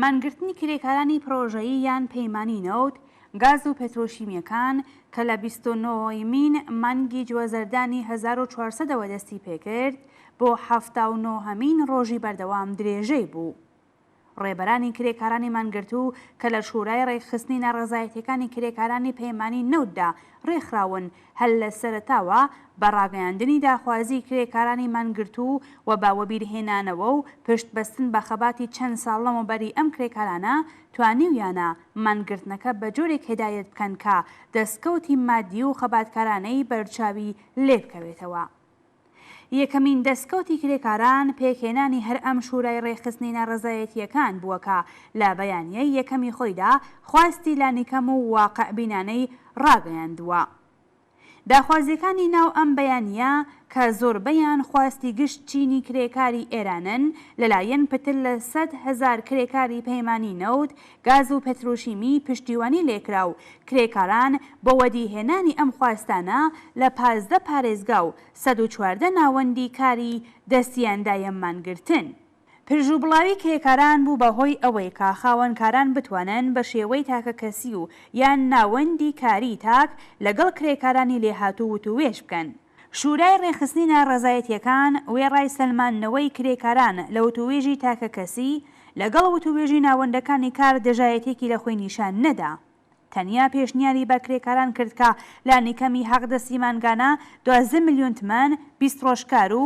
مانگرتنی کرێکارانی پڕۆژەیی یان پەیمانی نەوت، گاز و پێترۆشیمیەکان کە لە بیست و نۆ مین مانگی جوەزەردانی هەزار و چوار سەد ەوە دەستی پێکرد بۆ حەفتا و نۆ هەمین ڕۆژی بەردەوام درێژەی بوو. ڕێبەرانی کرێکارانی مانگرتوو کە لە شورای ڕێکخستنی ناڕەزایەتیەکانی کرێکارانی پەیمانی نەوتدا ڕێکخراون، هەر لە سەرەتاوە بە ڕاگەیاندنی داخوازیی کرێکارانی مانگرتوو و بە وەبیرهێنانەوە و پشت بەستن بە خەباتی چەند ساڵ لەمەوبەری ئەم کرێکارانە توانیویانە مانگرتنەکە بە جۆرێک هێدایەت بکەن کە دەستکەوتی مادی و خەباتکارانەی بەرچاوی لێ بکەوێتەوە. یەکەمین دەسکەوتی کرێکاران پێکهێنانی هەر ئەم شورای ڕێکخستنی ناڕەزایەتییەکان بووە کە لە بەیانییەی یەکەمی خۆیدا خواستی لانیکەم و واقعبینانەی ڕاگەیاندووە. داخوازییەکانی ناو ئەم بەیانییە کە زۆربەیان خواستی گشت چینی کرێکاری ئێرانن لەلایەن پتر لە سەد هەزار کرێکاری پەیمانی نەوت، گاز و پتروشیمی پشتیوانی لێکرا و کرێکاران بۆ وەدیهێنانی ئەم خواستانە لە پازدە پارێزگا و سەد و چواردە ناوەندی کاری دەستیان دایە مانگرتن. پرژوبڵاوی کرێکاران بوو بە هۆی ئەوەی کە خاوەنکاران بتوانن بە شێوەی تاکەکەسی و یان ناوەندی کاری تاک لەگەڵ کرێکارانی لێهاتوو وتووێژ بکەن. شورای ڕێکخستنی ناڕەزایەتییەکان وێڕای سەلماندنەوەی کرێکاران لە وتووێژی تاکەکەسی، لەگەڵ وتووێژی ناوەندەکانی کار دژایەتییەکی لە خۆی نیشان نەدا. تەنیا پێشنیاری بە کرێکاران کرد کە لانیکەمی حەقدەستی مانگانە دوازدە ملیۆن تمەن، بیست ڕۆژ کار و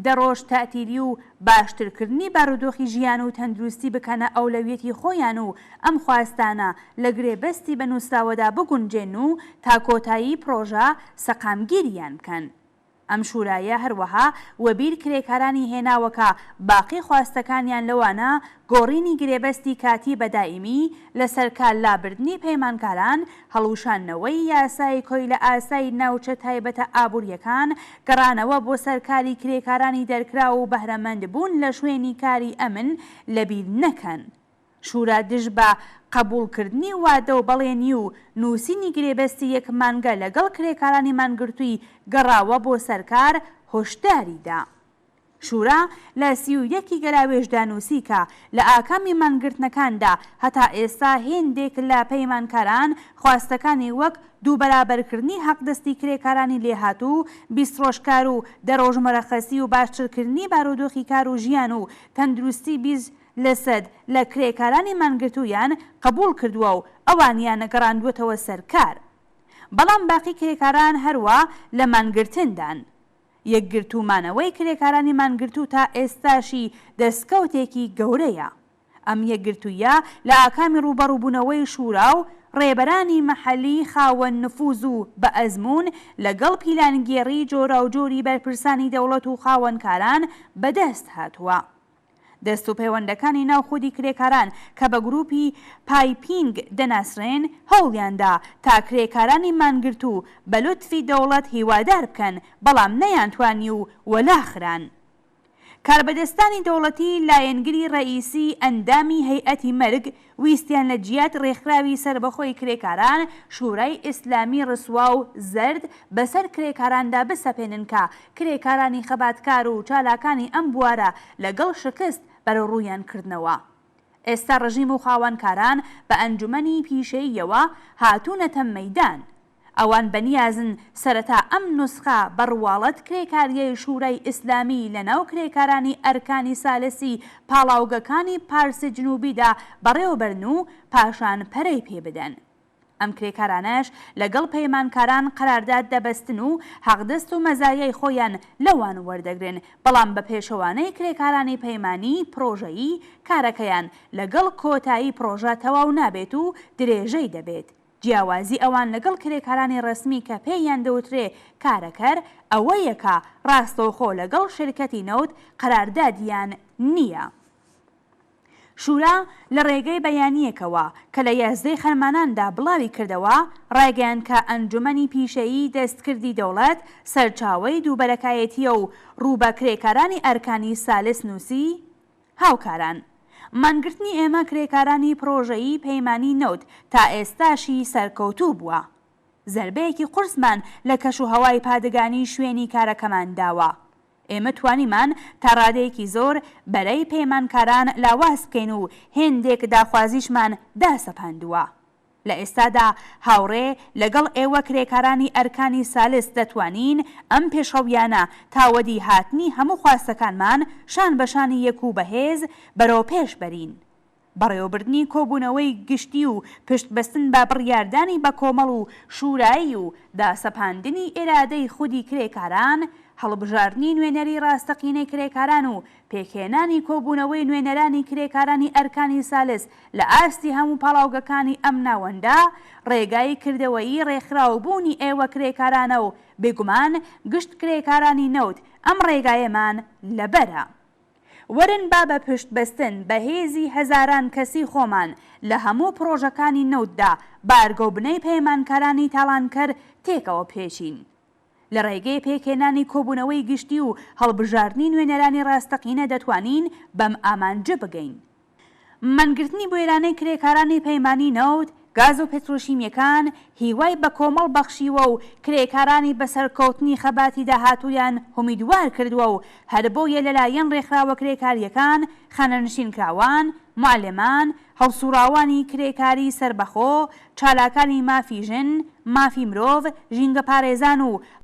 دە ڕۆژ تەئتیلی و باشترکردنی بارودۆخی ژیان و تەندروستی بکەنە ئەولەویەتی خۆیان و ئەم خواستانە لە گرێبەستی بە نوسراوەدا بگونجێن و تا کۆتایی پرۆژە سەقامگیریان بکەن. ئەم شورایە هەروەها وەبیر کرێکارانی هێناوە کە باقی خواستەکانیان لەوانە گۆڕینی گرێبەستی کاتی بە دایمی، لەسەرکارلابردنی پەیمانکاران، هەڵوشاندنەوەی یاسای کۆیلەئاسای ناوچە تایبەتە ئابوورییەکان، گەڕانەوە بۆ سەر کاری کرێکارانی دەرکراو و بەهرەمەند بوون لە شوێنی کاری ئەمن لەبیر نەکەن. شورا دژ بە قەبووڵ کردنی وادە و بەڵێنی و نووسینی گرێبەستی یەک مانگە لەگەڵ کرێکارانی مانگرتووی گەڕاوە بۆ سەر کار هۆشداری دا. شورا لە سی و یەک ی گەراوێژدا نووسی کە لە ئاکامی مانگرتنەکاندا هەتا ئێستا هێندێک لە پەیمانکاران خواستەکانی وەک دوو بەرابەرکردنی حەقدەستی کرێکارانی لێهاتوو بیست ڕۆژکار و دە ڕۆژ مەرەخەسی و باشترکردنی بارودۆخی کار و ژیان و تەندروستی بیست لەسەد لە کرێکارانی مانگرتوویان قبوڵ کردووە و ئەوانیان نەگەڕاندووەتەوە سەر کار بەڵام باقی کرێکاران هەروا لە مانگرتندان. یەکگرتوو مانەوەی کرێکارانی مانگرتوو تا ئێستاشی دەستکەوتێکی گەورەیە. ئەم یەکگرتوویە لە ئاکامی ڕووبەڕووبوونەوەی شورا و ڕێبەرانی مەحەلی خاوەن نفوز و بە ئەزموون لەگەڵ پیلانگێڕی جۆراوجۆری بەرپرسانی دەوڵەت و خاوەنکاران بەدەست هاتووە. دەست و پەیوەندەکانی ناو خودی کرێکاران کە بە گروپی پایپینگ دەناسرێن هەوڵیاندا تا کرێکارانی مانگرتوو بە لوتفی دەوڵەت هیوادار بکەن بەڵام نەیانتوانی و وەلا خران. کاربەدەستانی دەوڵەتی لایەنگری ڕەئیسی ئەندامی هەیئەتی مەرگ ویستیان لە جیات ڕێکخراوی سەربەخۆی کرێکاران، شورای ئیسلامی ڕسوا و زەرد بەسەر کرێکاراندا بسەپێنن کە کرێکارانی خەباتکار و چالاکانی ئەم بوارە لەگەڵ شکست بەرەڕوویان کردنەوە. ئێستا ڕژیم و خاوەنکاران بە ئەنجومەنی پیشەییەوە هاتوونەتە مەیدان. ئەوان بەنیازن سەرەتا ئەم نوسخە بە ڕواڵەت کرێکاریەی شورای ئیسلامی لە ناو کرێکارانی ئەرکانی سالسی پاڵاوگەکانی پارسی جنوبیدا بەڕێوەبەرن و پاشان پەرەی پێ بدەن. ئەم کرێکارانەش لەگەڵ پەیمانکاران قەرارداد دەبەستن و حەقدەست و مەزایای خۆیان لەوان وەردەگرن بەڵام بە پێچەوانەی کرێکارانی پەیمانی پرۆژەیی کارەکەیان لەگەڵ کۆتایی پرۆژە تەواو نابێت و درێژەی دەبێت جیاوازی ئەوان لەگەڵ کرێکارانی ڕەسمی کە پێ یان دەوترێ کارەکەر ئەوە یە کە ڕاستەوخۆ لەگەڵ شرکەتی نەوت قەراردادیان نیە. شورا لە ڕێگەی بەیانیەکەوە کە لە یازدەی خەرمانان دا بڵاوی کردەوە ڕایگەیان کە ئەنجومەنی پیشەیی دەستکردی دەوڵەت سەرچاوەی دووبەرەکایەتیە و ڕوو بە کرێکارانی ئەرکانی سالس نوسی هاوکاران. مانگرتنی ئێمە کرێکارانی پڕۆژەیی پەیمانی نەوت تا ئێستاشی سەرکەوتوو بووە. زەربەیەکی قورسمان لە کەش و هەوای پادگانی شوێنی کارەکەمان داوە. ئێمە توانیمان تا ڕادەیەکی زۆر بەرەی پەیمانکاران لاواز بکەین و هێندێک داخوازیشمان داسەپاندووە. لە ئێستادا هاوڕێ لەگەڵ ئێوە کرێکارانی ئەرکانی سالس دەتوانین ئەم پێشڕەویانە تا وەدی هاتنی هەموو خواستەکانمان شان بە شانی یەک و بەهێز بەرەو پێش بەرین. بەڕێوەبردنی کۆبوونەوەی گشتی و پشت بەستن بە بڕیاردانی بە کۆمەڵ و شورایی و داسەپاندنی ئیرادەی خودی کرێکاران، هەڵبژاردنی نوێنەری ڕاستەقینەی کرێکاران و پێکهێنانی کۆبوونەوەی نوێنەرانی کرێکارانی ئەرکانی سالس لە ئاستی هەموو پاڵاوگەکانی ئەم ناوەندە، ڕێگای کردەوەیی ڕێکخراوبوونی ئێوە کرێکارانە و بێگومان گشت کرێکارانی نەوت ئەم ڕێگایەمان لەبەرە. وەرن با بە پشت بەستن بە هێزی هەزاران کەسی خۆمان لە هەموو پڕۆژەکانی نەوتدا بارگە و بنەی پەیمانکارانی تاڵانکەر تێکەوە بپێچین. لە ڕێگەی پێکهێنانی کۆبوونەوەی گشتی و هەڵبژاردنی نوێنەرانی ڕاستەقینە دەتوانین بەم ئامانجە بگەین. مانگرتنی بوێرانەی کرێکارانی پەیمانی نەوت، گاز و پترۆشیمیەکان هیوای بە کۆمەڵ بەخشیوە و کرێکارانی بە سەرکەوتنی خەباتی داهاتوویان هومیدوار کردووە و هەربۆیە لەلایەن ڕێکخراوە کرێکاریەکان، خانەنشینکراوان، معلمان، هەڵسوڕاوانی کرێکاری سەربەخۆ، چالاکانی مافی ژن، مافی مرۆڤ، ژینگەپارێزان و